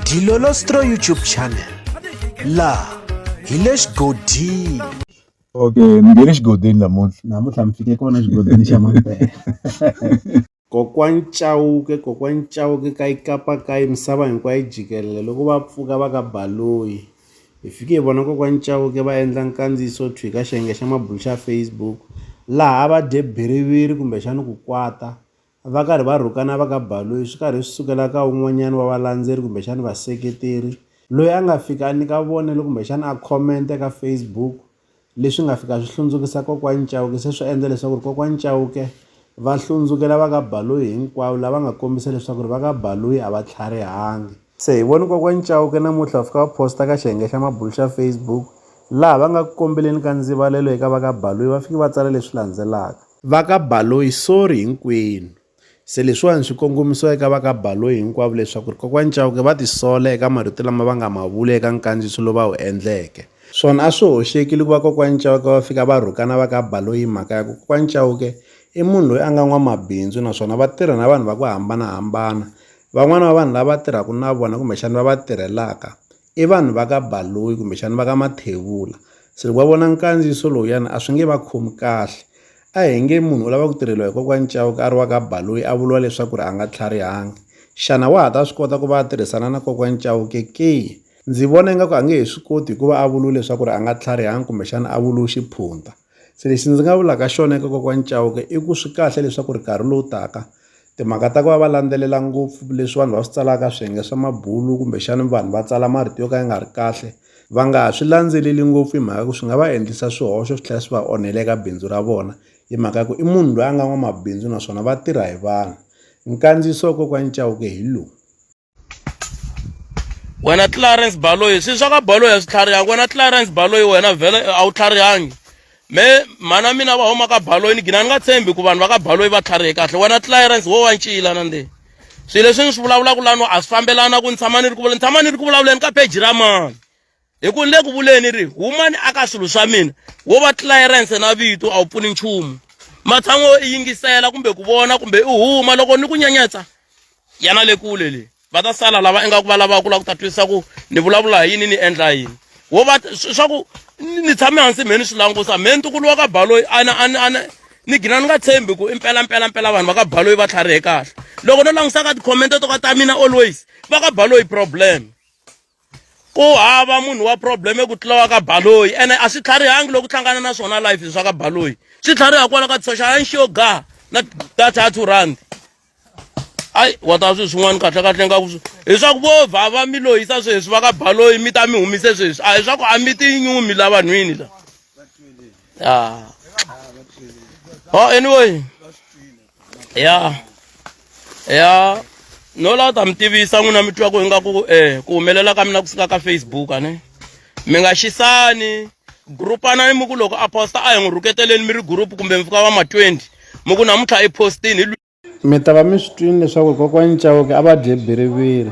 Dilolostro YouTube channel laha hi le xigodini okay ni nge le xigodini namuntlha namuntlha mi fike kona xigodini xa mampela kokwani chauke kokwani chauke ka ikapa ka misava hinkwayo yi jikelele loko va pfuka va ka baloyi hi fike hi vona kokwani chauke va endla nkandziyiso thwi ka xiyenge xa mabulu xa facebook laha va dye biriviri kumbexani ku kwata va karhi va rhukana va ka Baloyi swi karhi swi sukela ka un'wanyana wa valandzeri kumbexana vaseketeri loyi a nga fika a nyika vonelo kumbexana a comment ka Facebook leswi nga fika swi hlundzukisa kokwani Chauke se swi endla leswaku ri kokwani Chauke va hlundzukela va ka Baloyi hinkwavo lava nga kombisa leswaku ri va ka Baloyi a va tlharihangi. Se hi vone Kokwani Chauke namuntlha va fika va posta ka xiyenge xa mabulu xa Facebook laha va nga ku kombeleni ka ndzivalelo eka va ka Baloyi va fike va tsala leswi landzelaka. Va ka Baloyi sorry hinkwenu. Se leswiwani swi kongomisiwa eka va ka Baloyi hinkwavo leswaku ri Kokwani Chauke va ti sola eka marito lama va nga ma vula eka nkandziyiso lowu va wu endleke. Swona a swi hoxeki loko va Kokwani Chauke va fika va rhukana va ka Baloyi hi mhaka ya ku Kokwani Chauke i munhu loyi a nga n'wamabindzu naswona va tirha na vanhu va ku hambana-hambana Van'wana va vanhu lava tirhaka na vona kumbexana va va tirhelaka i vanhu va ka Baloyi kumbexana va ka Mathevula se loko va vona nkandziyiso lowuyani a swi nge va khomi kahle a hi nge munhu u lava ku tirheliwa hi kokwani Chauke a ri wa ka Baloyi a vuriwa leswaku ri a nga tlharihangi xana wa ha ta swi kota ku va a tirhisana na kokwani Chauke ke ndzi vona ingaku a nge he swi koti hikuva a vuriwe leswaku ri a nga tlharihangi kumbexana a vuriwe xiphunta Se lexi ndzi nga vulaka xona eka kokwani Chauke i ku swi kahle leswaku ri nkarhi lowu taka timhaka ta ku va va landzelela ngopfu leswi vanhu va swi tsalaka swiyenge swa mabulu kumbexani vanhu va tsala marito yo ka ya nga ri kahle va nga ha swi landzeleli ngopfu hi mhaka ku swi nga va endlisa swihoxo swi tlhela swi va onhela eka bindzu ra vona hi mhaka ya ku i munhu loyi a nga n'wamabindzu naswona va tirha hi vanhu nkandziyiso wa kokwani Chauke hi lowu. wena Clarence Baloyi swi swa ka Baloyi a swi tlharihanga wena Clarence Baloyi wena vhele a wu tlharihangi me mhana mina va huma ka Baloyi ni gina ni nga tshembi ku vanhu va ka Baloyi va tlharihe kahle wena Clarence wo wa ncila na nde swilo leswi ni swi vulavulaka lano a swi fambelana ku ni tshama ni ri ku ni tshama ni ri ku vulavuleni ka page ra mani hi ku ni le ku vuleni ri huma ni aka swilo swa mina wo va tlilayirense na vito a wu pfuni nchumu matshan'wa yo i yingisela kumbe ku vona kumbe i huma loko ni ku nyenyetsa yana le kule le va ta sala lava ingaku va lavaka ku lava ku ta twisisa ku ni vulavula hi yini ni endla yini wo va swa ku ni tshame hansi mhe ni swi langusa mhe ntukulu wa ka baloyi ana ana ana ni gina ni nga tshembi ku i mpela mpela mpela vanhu va ka baloyi va tlharihe kahle loko no langusa ka tikhomente to ka ta mina always va ka baloyi problem ku hava munhu wa problem ku tlula wa ka baloyi ene a swi tlharihangi loko hlangana na swona life swa ka baloyi swi tlhariha kwala ka social ya nxiyo ga na data ya two rand ayi wa ta sweswi n'wana kahle kahle nga ku hi swa ku vo vhava mi lohisa sweswi va ka baloyi mi ta mi humise sweswi a hi swa ku a mi tinyumi la vanhwini la ya o anyway ya ya no la ta mi tivisa n'wina mi twa ku ingaku eh ku humelela ka mina ku suka ka facebook a ne mi nga xisani grupanani mi ku loko a posta a hi n'wi rhuketeleni mi ri group kumbe mi fika va ma 20 mi ku namuntlha i postini hi mi ta va mi swi twini leswaku kokwana chauke a va dye biriviri